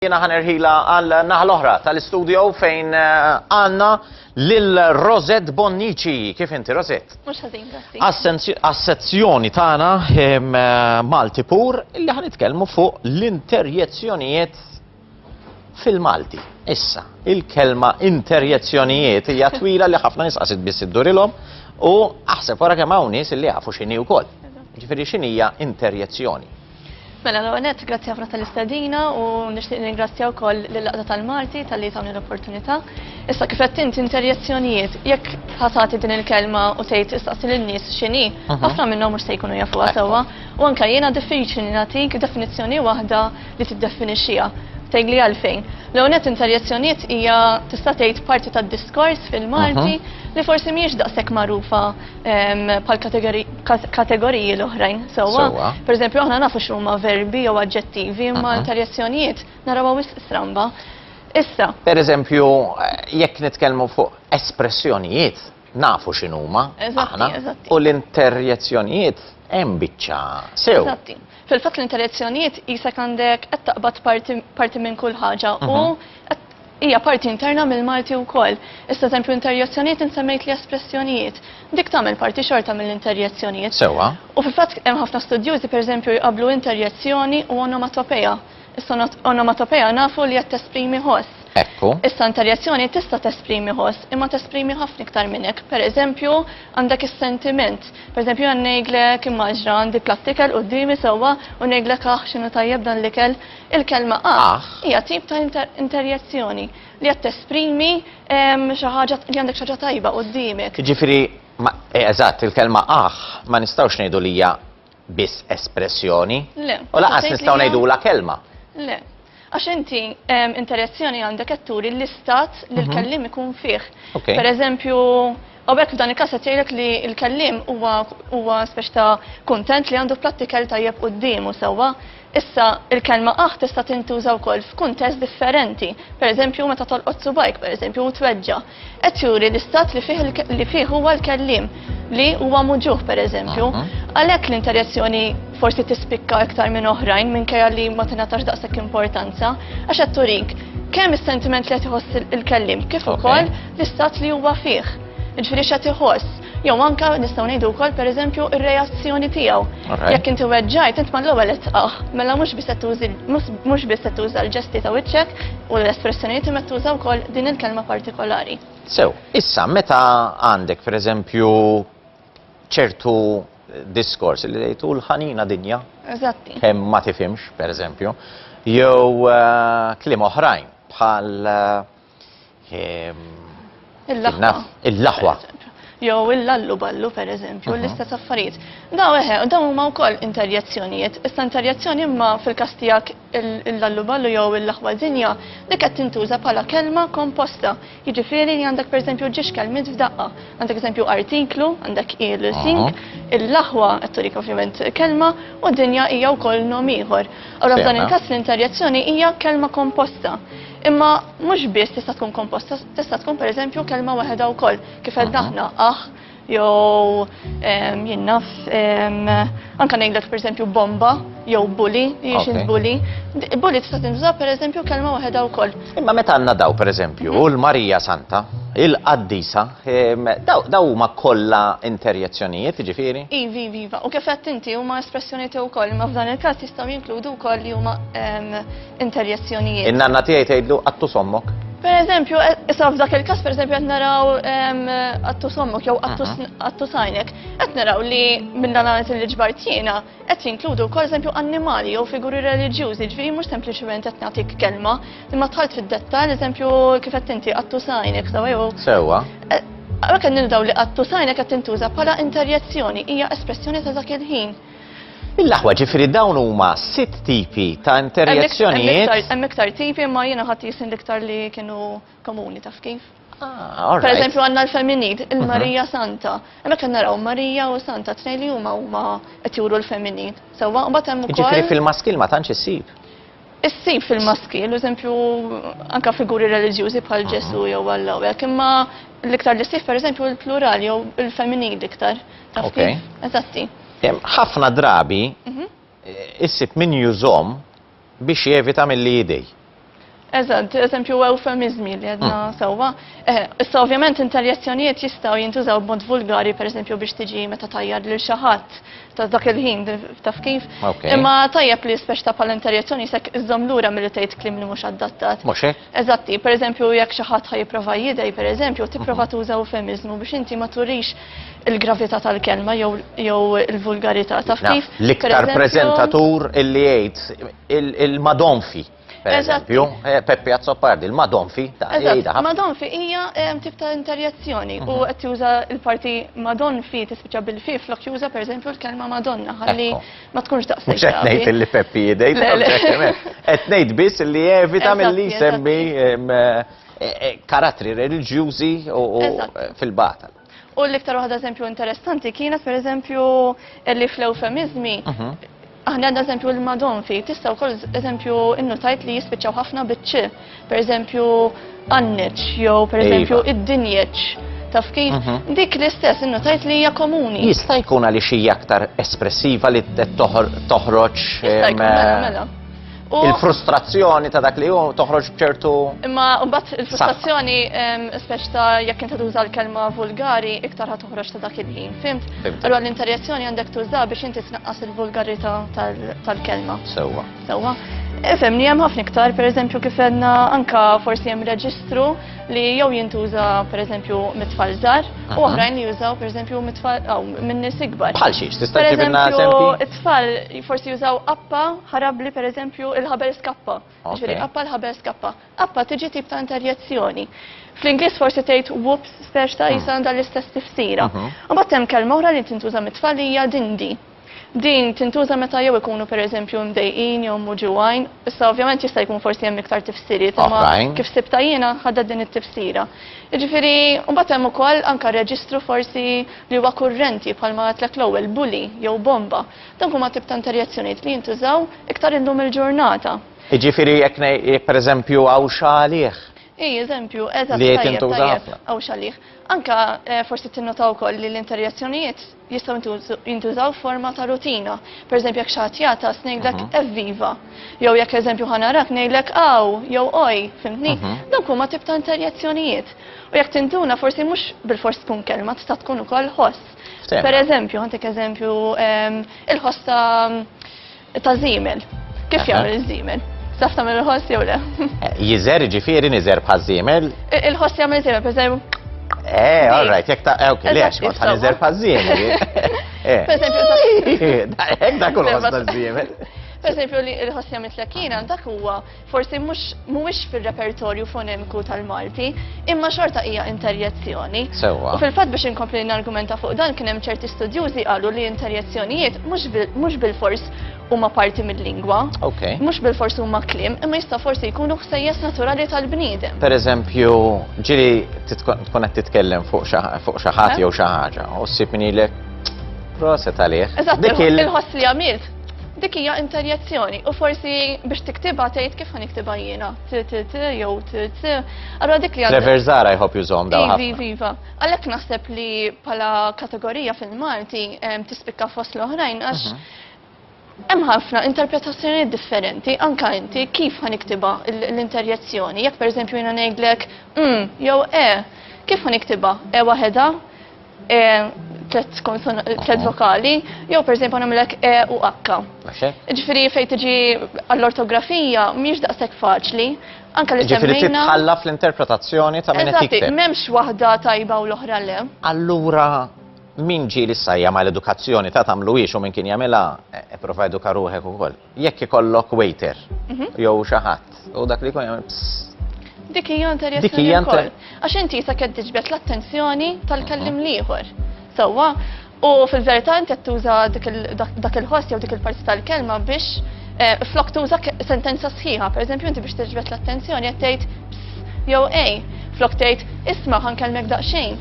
Jiena ħa nerħilha għal naħa l-oħra tal-istudio fejn għandna lil Rosette Bonnici. Kif inti Rosette? Mhux ħażin, grazzi. Għas-sezzjoni tagħna Malti pur illi ħa nitkellmu fuq l-interjezzjonijiet fil-Malti. Issa, il-kelma interjezzjonijiet hija twila li ħafna nisqasid biss iddurilhom u aħseb wara kemm hawn nies illi jafu x'inhi wkoll. Ġifieri x'inhija interjezzjoni? Mela l-ewwel nett grazzi ħafna tal-istedina u nixtieq ningrazzja wkoll lill-Laqda tal-Malti talli tawni l-opportunità. Issa kif qed int interjezzjonijiet, jekk ħatati din il-kelma u tgħid istaqsi lin-nies x'inhi, mhm. ħafna minnhom mhux se jkunu jafuha sewwa. U anke jiena diffiċli li nagħtik definizzjoni waħda li tiddefinixxiha. Tegli għalfejn. L-ewwel nett interjezzjonijiet hija tista' tgħid parti tad-diskors fil-Malti mhm. li forsi mhijiex daqshekk magħrufa pal kategoriji l-oħrajn, sewwa. Per eżempju, aħna nafu x'huma verbi jew aġġettivi, imma tal-jazzjonijiet naraw wis stramba. Issa. Per eżempju, jekk nitkellmu fuq espressjonijiet, nafu x'inhuma aħna u l-interjezzjonijiet hemm biċċa sew. Eżatti. Fil-fatt l-interjezzjonijiet jisek għandek qed taqbad parti minn kull ħaġa u mhm. Hija parti interna mill-Malti wkoll. Issa eżempju interjezzjonijiet int semmejtli espressjonijiet. Dik tagħmel parti xorta mill-interjezzjonijiet. Sewwa. U fil-fatt hemm ħafna studjużi pereżempju jqabblu interjezzjoni u onomatopeja. Issa onomatopeja nafu li qed tesprimi ħoss. Ekku. Issa interjezzjoni tista' tesprimi ħoss imma tesprimi ħafna iktar minn hekk. Pereżempju għandek is-sentiment. Pereżempju jien ngħidlek immaġna għandi platt ikel quddiemi sewwa u ngħidlek aħ x'inhu tajjeb dan l-ikel. Il-kelma aħ hija tip ta' interjezzjoni li qed tesprimi xi ħaġa li għandek xi ħaġa tajba quddiemek. Jiġifieri eh, eżatt, il-kelma aħ ma nistgħux ngħidu li hija biss espressjoni. Le. U laqas nistgħu ngħidula kelma. Le. Għax inti interjezzjoni għandek qed turi l-istat li mhm. l-kellim ikun fih. Per eżempju, U b'hekk f'dan il-każ qed jgħidlek li l-kelliem huwa huwa speċi ta' kuntent li għandu prattikel tajjeb quddiemu sewwa. Issa il-kelma aħ tista' tintuża wkoll f'kuntest differenti, pereżempju meta tolqot subajk pereżempju u tweġġa'. Qed juri l-istat li fih li fih huwa l-kelliem li huwa muġugħ pereżempju. Għalhekk l-interjezzjoni forsi tispikka iktar minn oħrajn minkejja li ma tingħatax daqshekk importanza għax qed turik kemm is-sentiment li qed iħoss il-kelliem kif ukoll l-istat li huwa fih, jiġifieri x'qed iħoss, jew anke nistgħu ngħidu wkoll pereżempju r-reazzjoni tiegħu. Jekk inti weġġajt, int mal-ewwel qed tqah, mela mhux biss qed tużi mhux biss qed tuża l-ġesti ta' wiċċek u l-espressjonijiet imma qed tuża wkoll din il-kelma partikolari. Sew, issa meta għandek pereżempju ċertu diskors li lejtu l-ħanina dinja. Eżatti. Kemm ma tifhimx, pereżempju, jew eh, kliem oħrajn bħal eh, Il-laħwa. Jew il-lallu ballu, per eżempju, mhm. l-istess affarijiet. Daw eħe, daw huma wkoll interjezzjonijiet. Issa interjezzjoni imma fil-każ tiegħek il-lallu ballu jew il-laħwa dinja li qed tintuża bħala kelma komposta. Jiġifieri li għandek pereżempju ġiex kelmiet f'daqqa. Għandek eżempju artiklu, għandek il-sink, mhm. il-laħwa qed turik ovvjament kelma u dinja hija wkoll nom ieħor. Allora f'dan il-każ l-interjezzjoni hija kelma komposta. Imma mhux biss tista' tkun komposta, tista' tkun pereżempju kelma waħedha wkoll, kif qed aħna aħ jew jinnaf anke ngħidlek pereżempju bomba jew bully, jiex bully. Bully tista' tintuża pereżempju kelma waħedha wkoll. Imma meta għandna daw pereżempju u l-Marija Santa, il-qaddisa, daw huma kollha interjezzjonijiet, ġifieri? Iva, iva, iva. U kif qed inti huma espressjonijiet wkoll, imma f'dan il-każ jistgħu jinkludu wkoll li huma interjezzjonijiet. In-nanna tiegħi tgħidlu qattu sommok. Per eżempju, e, issa f'dak il-każ per eżempju qed naraw qattu sommok jew qattu sajnek, qed naraw li minn dan għanet li ġbartina qed jinkludu wkoll eżempju annimali jew figuri reliġjużi, ġifieri mhux sempliċement qed nagħtik kelma, imma tħalt fid-dettall eżempju kif qed inti qattu sajnek sew jew. Sewwa. E, Għalhekk qed nildaw li qattu sajnek qed tintuża bħala interjezzjoni hija espressjoni ta' dak il-ħin. Mill-aħwa ġifiri dawn huma sitt tipi ta' interjezzjonijiet. Hemm iktar tipi ma jiena ħadd jisin l-iktar li kienu komuni taf kif. Ah, per eżempju għandna l-femminid, mhm. il-Marija Santa. Hemmhekk qed naraw Marija u Santa tnejn li huma huma qed juru l-femminid. Sewwa mbagħad hemm ukoll. Ġifieri fil-maskil ma tantx issib. Issib fil-maskil, eżempju, anka figuri reliġjużi bħal Ġesu jew Alla u hekk, imma l-iktar li ssib pereżempju l-plural jew il-femminil iktar. Taf kif? Eżatti. Ħafna drabi mhm. issib min jużom biex jevita mill-li jidej. Eżatt, eżempju eufemizmi li għedna hmm. sewwa. Eh, issa ovvjament interjezzjonijiet jistgħu jintużaw b'mod vulgari, pereżempju biex tiġi meta tajjar lil xi ħadd ta' dak il-ħin, taf kif. Imma tajjeb li speċ ta' pal interjezzjoni sekk iżżom lura mill tgħid klim li mhux addattat. Mhux hekk? Eżatti, pereżempju jekk xi ħadd ħajprova jidej, pereżempju, tipprova mhm. tuża eufemizmu biex inti ma turix il-gravità tal-kelma jew il-vulgarità. Taf kif? L-iktar preżentatur illi jgħid il-madonfi. Per eżempju, eh, Peppi Azzopardi, il-Madonfi, ta' Eżatt, Madonfi hija eh, tip ta' interjezzjoni u mhm. qed juża l-parti Madonfi tispiċċa bil-fi flok juża pereżempju l-kelma Madonna ħalli ma tkunx daqshekk. Mhux qed ngħid li Peppi jidej, qed ngħid biss li evita milli jsemmi eh, karattri reliġjużi u fil-batal. U l-iktar waħda eżempju interessanti kienet per eżempju li fl-eufemizmi mhm. Aħna għandna eżempju l-madon fi, tista' wkoll eżempju innutajt li jispiċċaw ħafna biċċi, per eżempju għanneċ, jew per iva. eżempju id-dinjeċ. Taf kif? Mhm. Dik l-istess innutajt li hija komuni. Jista' jkun għaliex hija aktar espressiva li toħroġ. Jista' jkun mela. mela. Il-frustrazzjoni ta' dak li hu toħroġ bċertu. Imma mbagħad il-frustrazzjoni speċ ta' jekk inti tuża l-kelma vulgari iktar ħa toħroġ ta' dak il-ħin, fimt? Allura l-interjezzjoni għandek tuża biex inti tnaqqas il-vulgarità tal-kelma. Sewwa. Sewwa. Efem, li hemm ħafna iktar, per eżempju, kif għedna anka forsi hemm reġistru li jew jintuża per eżempju mitfall żgħar u oħrajn li jużaw per eżempju mitfall aw minn nies ikbar. Bħal xiex, tista' ġibilna eżempju? Tfal forsi jużaw appa ħarabli per eżempju il-ħabel skappa. Ġifieri appa l-ħabel skappa. Appa tiġi tip ta' interjezzjoni. Fl-Ingliż forsi tgħid whoops speċ ta' jisa hmm. l-istess tifsira. Mhm. Mbagħad hemm kelma oħra li tintuża mit-tfal hija dindi. Din tintuża meta jew ikunu per eżempju mdejqin jew muġuwajn. Issa ovvjament jista' jkun forsi hemm iktar tifsiriet, imma kif sibta jiena ħadda din it-tifsira. Jiġifieri, mbagħad hemm ukoll anke reġistru forsi li huwa kurrenti, bħalma għedtlek l-ewwel, bully jew bomba, dawk huma tip ta' interjezzjonijiet li jintużaw iktar illum il-ġurnata. Jiġifieri jekk ngħid, jekk pereżempju għawxa għalih. Hi, eżempju, eżatt, tajjeb, tajjeb. Li tintuża ħafna. Għawxa għalih. Anke forsi tinnota wkoll li l-interjezzjonijiet jistgħu jintużaw f'forma ta' rutina. Pereżempju jekk xi ħadd jagħtas ngħidlek evviva. Jew jekk eżempju ħa narak ngħidlek aw jew oj, fhimtni? Dawk huma tip ta' interjezzjonijiet. U jekk tintuna forsi mhux bil-fors tkun kelma tista' tkun ukoll ħoss. Per eżempju, għandek eżempju ehm, il-ħoss ta' żiemel. Kif jagħmel iż-żiemel? Saf tagħmel il-ħoss jew le? Eh, jiżer ġifieri niżer bħal żiemel. Il-ħoss jagħmel żiemel, per eżempju. Eh, all right, jekk ta' ok, eh, le għax kont ħaniżer bħal żiemel. Eh. Per eżempju, hekk dak il-ħoss ta' żiemel. Per eżempju, li l-ħoss jagħmel tlekkina dak huwa forsi mhux mhuwiex fir-repertorju fonemiku tal-Malti, imma xorta hija interjezzjoni. Sewwa. U fil-fatt biex inkompli nargumenta fuq dan kien hemm ċerti studjużi qalu li interjezzjonijiet mhux bilfors huma parti mill-lingwa. Okay. Mhux bilfors huma kliem, imma jista' forsi jkunu ħsejjes naturali tal-bniedem. Per eżempju, ġili tkun qed titkellem fuq xi ħadd jew xi ħaġa u ssib min jgħidlek proset għalih. Eżatt, il-ħoss li għamilt. Dik hija interjezzjoni u forsi biex tiktibha tgħid kif ħa niktibha jiena. T t t jew t t. Allura dik li għandha. Trevor Zara jħobb jużhom dawn. Ivi, ivi, iva. Għalhekk naħseb li bħala kategorija fil-Malti tispikka fost l-oħrajn għax mhm. hemm ħafna interpretazzjonijiet differenti anka inti kif ħa niktibha l-interjezzjoni. Jekk pereżempju jiena ngħidlek mm jew e, kif ħa niktibha? E waħedha E, tlet konsona, tlet vokali, jew per esempio namlek E u H. Ġifiri fej tiġi għall-ortografija miex daqsek faċli, anka li semmejna. Ġifiri titħalla fl-interpretazzjoni ta' minn qed Memx waħda tajba u l-oħra le. Allura min ġi li sajja ma l-edukazzjoni ta' tamlu u minn kien jamela e, e prova eduka ruħek ukoll. Jekk ikollok waiter mhm. jew xi ħadd u dak li jkun jagħmel Dik hija interessjoni wkoll. Għax inti sa qed tiġbed l-attenzjoni tal-kellim l-ieħor. Sewwa, u fil-verità inti qed tuża dak il-ħoss jew dik il-parti tal-kelma biex eh, flok tuża sentenza sħiħa, pereżempju inti biex tiġbed l-attenzjoni qed tgħid jew ej, flok tgħid isma' ħankellmek daqsxejn.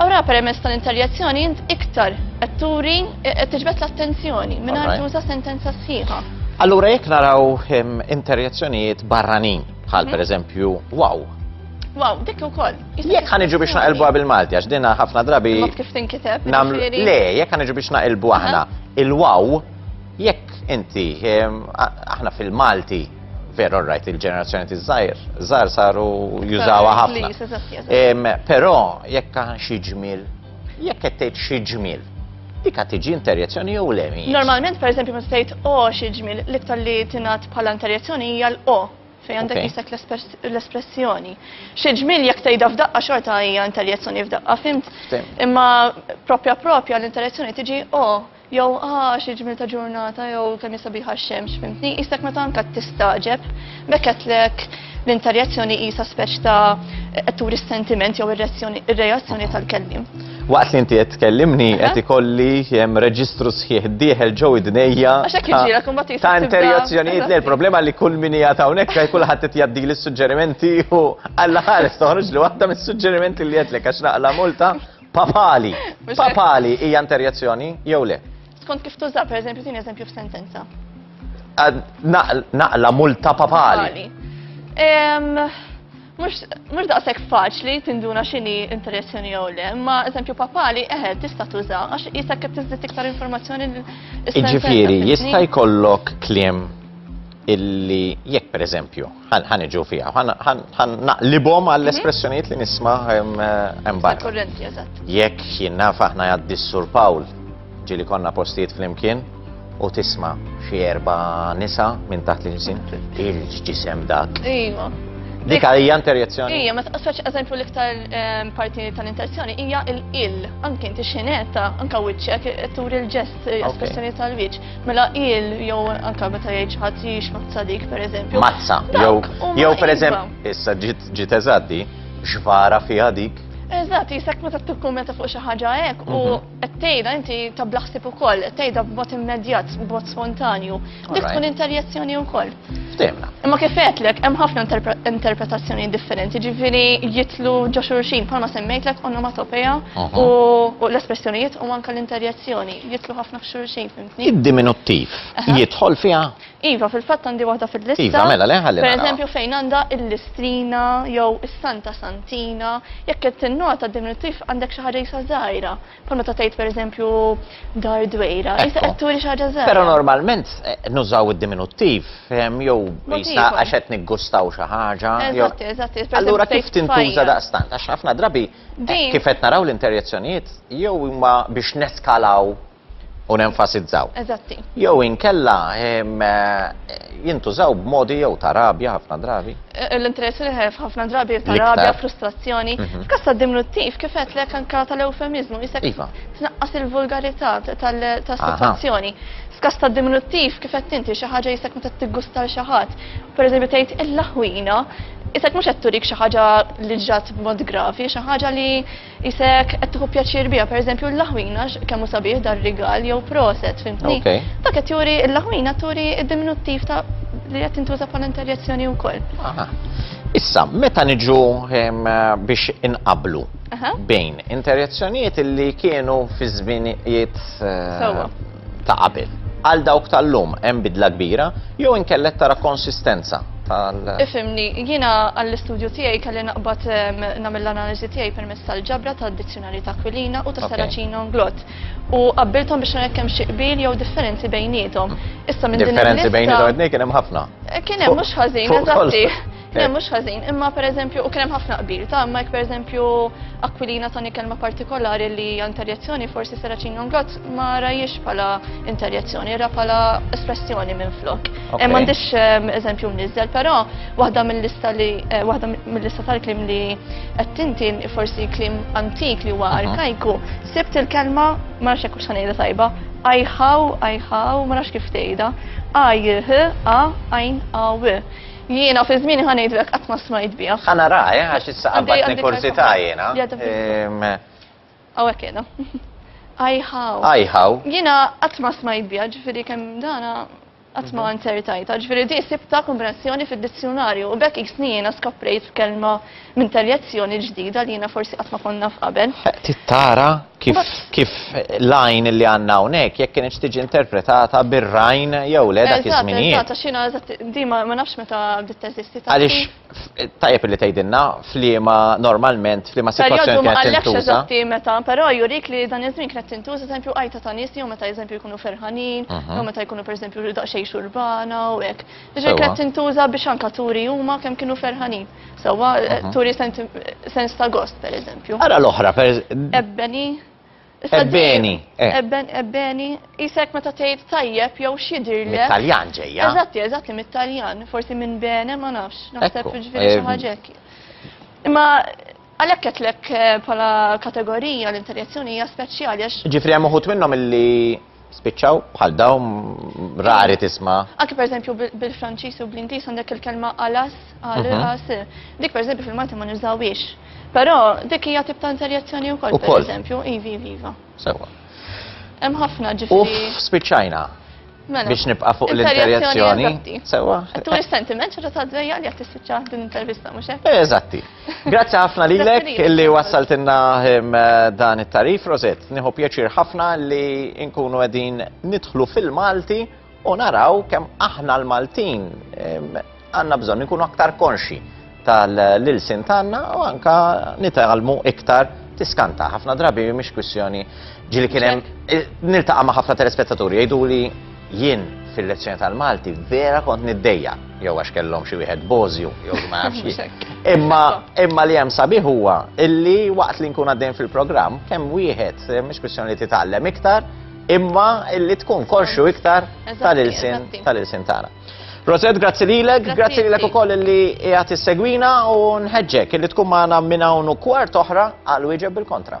Ora permezz tal-inteljazzjoni int iktar qed turi qed tiġbed l-attenzjoni mingħajr tuża sentenza sħiħa. Allura jekk naraw ehm, interjazzjonijiet barranin bħal mhm. pereżempju wow, Wow, dik ukoll. Jekk ħaniġu biex naqilbuha bil-Malti għax dinha ħafna drabi. Kif tinkiteb? Le, jekk ħaniġu biex naqilbu aħna il-wow jekk inti ehm, aħna fil-Malti Vera, all right, il-ġenerazzjoni tiż-żgħir, żgħar saru jużawha ħafna. Però jekk għan xi ġmiel, jekk qed tgħid xi ġmiel, dik qed tiġi interjezzjoni jew le Normalment, pereżempju, meta tgħid o xi ġmiel, l-iktar li tingħad bħala interjezzjoni hija l-o fejn għandek jisek l-espressjoni. Xi ġmiel jekk tgħidha f'daqqa xorta hija interjezzjoni f'daqqa, fimt? Imma propja propja l-interjezzjoni tiġi o Jew ha xi ġmiel ta' ġurnata jew kemm hi sabiħa x-xemx, fimtni, qisek meta anke qed tistagħġeb, b'hekk għedtlek li inta reazzjoni qisha speċ ta' qed turi s-sentiment jew ir-reazzjoni tal-kelliem. Waqt li inti qed tkellimni qed ikolli hemm reġistru sħiħ dieħel ġew id-dnejja. Ta' interjazzjonijiet li l-problema li kull min hija ta' hawnhekk għaj kulħadd qed jgħaddi l-suġġerimenti u alla ħares toħroġ li waħda mis-suġġerimenti li qed lek għax naqla multa Papali. Papali hija interjezzjoni jew le? Skont kif tuża, per eżempju, tieni eżempju f'sentenza. Naqla multa papali. Mux daqsek faċli tinduna xini interjezzjoni jew le, ma eżempju papali eħe tista' tuża għax jista' kif tiżdid iktar informazzjoni l Iġifieri jista' jkollok kliem illi jekk per eżempju, ħan iġu fija, ħan naqlibom għall-espressjoniet li nisma embar. Jekk jinnaf faħna jaddi s-sur Pawl, ġili konna postijiet fl-imkien, u tisma xie erba nisa minn taħt li ġisin, il-ġisem dak. Iva. Dik hija interjezzjoni. Ija, ma taqsax eżempju l-iktar ehm, parti tal-interjezzjoni hija il-il, anke inti xineta, anke wiċċek, turi l-ġest, espressjoni tal-wiċċ. Mela il jew anka meta jgħid xi ħadd jgħix mazza dik pereżempju. Mazza, jew jew pereżempju issa ġiet ġiet eżatti, xvara fiha dik. Eżatt, jisak meta tikkummenta fuq xi ħaġa hekk u mhm. qed tgħidha inti ta' blaħsib ukoll, qed tgħidha b'mod immedjat, b'mod spontanju. Dik tkun interjezzjoni wkoll. Ftemna. Imma kif għedlek, hemm ħafna interpretazzjoni differenti, ġifiri jitlu ġo xurxin, palma semmejtlek onomatopeja u l-espressjonijiet u manka l-interjezzjoni, jitlu ħafna xurxin, fimtni? Id-diminuttiv, jitħol fija? Iva, fil-fatt għandi waħda fil-lista. Iva, mela le ħalli. Per eżempju, fejn għanda il-listrina jew is-santa santina, jekk qed tinnota diminuttiv għandek xi ħaġa jisa żgħira. Bħal meta tgħid pereżempju dar dwejra, issa qed turi xi ħaġa żgħira. Però normalment eh, nużaw id-diminuttiv, ehm, jew jisna għax qed niggustaw xi ħaġa. Eżatt, eżatt. Allura kif tintuża daqstant? Għax ħafna drabi eh, kif qed naraw l-interjezzjonijiet jew huma biex neskalaw u nenfasizzaw. Eżatti. Jew inkella ehm, eh, jintużaw b'modi jew ta' rabja ħafna drabi. l-interess il-ħef ħafna drabi jibta' rabja, frustrazzjoni. Mhm. F'kas ta' diminuttiv, kif qed lek anka tal-eufemizmu, jisek iva. tnaqqas il-vulgarità tas-sitwazzjoni. F'kas ta' diminuttiv, kif qed inti xi ħaġa jisek meta tiggusta xi ħadd. Pereżempju tgħid il-laħwina, jisek mhux qed turik xi ħaġa li ġat b'mod gravi, xi ħaġa li Qisek qed tieħu pjaċir biha, pereżempju l-laħwin għax kemm hu sabiħ dan rigal jew proset, fimtni? Okay. Dak qed juri l-laħwina turi d-diminuttiv ta' li qed tintuża bħala interjezzjoni wkoll. Aha. Issa, meta niġu em, biex inqablu Aha. bejn interjezzjonijiet li kienu fi żminijiet eh, Sewwa. ta' qabel. Għal dawk tal-lum hemm bidla kbira jew inkella qed tara konsistenza tal. Ifhimni, jiena għall-istudju tiegħi kelli naqbad nagħmel l-analiżi tiegħi permezz tal-ġabra tad-Dizzjunarju ta' Aquilina u ta' Saracino Nglott. U qabbilthom biex nara jekk hemm xi qbil jew differenzi bejniethom. Issa minn din il-lista. Differenzi bejniethom qed ngħid kien hemm ħafna. Kien hemm mhux ħażin, eżatti. Le, mhux ħażin, imma pereżempju u kien hemm ħafna qbil ta' imma jekk pereżempju Aquilina tani kelma partikolari li hija interjezzjoni forsi Seracin Jonglot ma rajiex bħala interjezzjoni, ra bħala espressjoni minn flok. Eh, m'għandix ehm, eżempju mniżżel, però waħda mill-lista li eh, waħda mill-lista tal-klim li qed tintin forsi klim antik li huwa arkajku, sibt il-kelma ma nafx hekk x'ħanejda tajba, ajħaw, ajħaw, ma nafx kif tgħidha, ajh, a, ajn, aw. Jiena fi żmieni ħa ngħidlek qatt ma smajt biha. Ħa nara, eh, għax issa qabbatni kursità jiena. Hawnhekk qiegħda. Ajħaw. Ajħaw. Jiena qatt ma smajt biha, ġifieri kemm dana qatt ma mhm. nsertajta, ġifieri di sibta komprensjoni fid-dizzjonarju u bekk jiena skoprejt kelma minn tal-jazzjoni l-ġdida li jiena forsi qatt ma kont naf qabel. Trid tara kif kif l-għajn li għandna hawnhekk jekk kienx tiġi interpretata bir-rajn jew le dak iż-żminijiet. Eżatt, eżatt, xina eżatt di ma nafx meta bdiet teżisti ta' Għaliex tajjeb li tgħidilna f'liema normalment f'liema sitwazzjoni kienet tintuża. Perjodu ma eżatti meta, però jurik li dan iż-żmien kienet tintuża eżempju għajta ta' nies jew meta eżempju jkunu ferħanin, jew meta jkunu pereżempju daqsxejn xurbana u hekk. Jiġifieri kienet tintuża biex anke turi huma kemm kienu ferħanin. Sewa, eh, mhm. turi sens ta' gost, per eżempju. Ara l-oħra, per eżempju. Ebbeni. Ebbeni. Eh. Ebbeni, jisek meta tgħid tajjeb jew xidir le. Mit-Taljan ġejja. Eżatti, eżatti, mit-Taljan. Forsi minn bene, ma nafx. Naħseb ġifieri xi eh, ħaġa Imma Għalhekk qedtlek bħala kategorija l-interjezzjoni hija speċjali għax. Ġifri hemm uħud minnhom illi spiċċaw bħal dawn rari tisma. Anke pereżempju bil-Franċiż u bl-Ingliż għandek il-kelma alas, għal mhm. as. Dik pereżempju fil-Malti ma nużawiex. Però dik hija tip ta' interjezzjoni wkoll pereżempju, ivi viva. Sewa. Hemm ħafna ġifri. Uff, spiċċajna. Mela, biex nibqa fuq l-interjazzjoni. Sewa. Tu l-sentiment ċerta ta' dvejja li għattis tiċċa din intervista, mux hekk? Eh, eżatti. Grazzi ħafna lilek illi wassaltinna ehm, dan it-tarif, Roset. Nieħu pjaċir ħafna li nkunu qegħdin nidħlu fil-Malti u naraw kemm aħna l-Maltin ehm, Għandna bżonn inkunu aktar konxi tal-ilsien tagħna u anka nitgħallmu iktar tiskanta. Ħafna drabi mhix kwistjoni ġili kien hemm eh, niltaqa' ma' ħafna telespettaturi jgħidu li jien fil-lezzjoni tal-Malti vera kont niddejja jew għax kellhom xi wieħed bożju jew ma nafx. Imma imma li hemm sabiħ huwa illi waqt li nkun għaddejn fil-programm kemm wieħed eh, mhix kwistjoni li titgħallem iktar imma illi tkun konxu iktar tal-ilsin tal-ilsin tagħna. Rosette, grazzi lilek, grazzi, grazzi lilek ukoll li qiegħed issegwina u nħeġġek li tkun magħna minn hawn u kwart oħra għal wieġeb bil-kontra.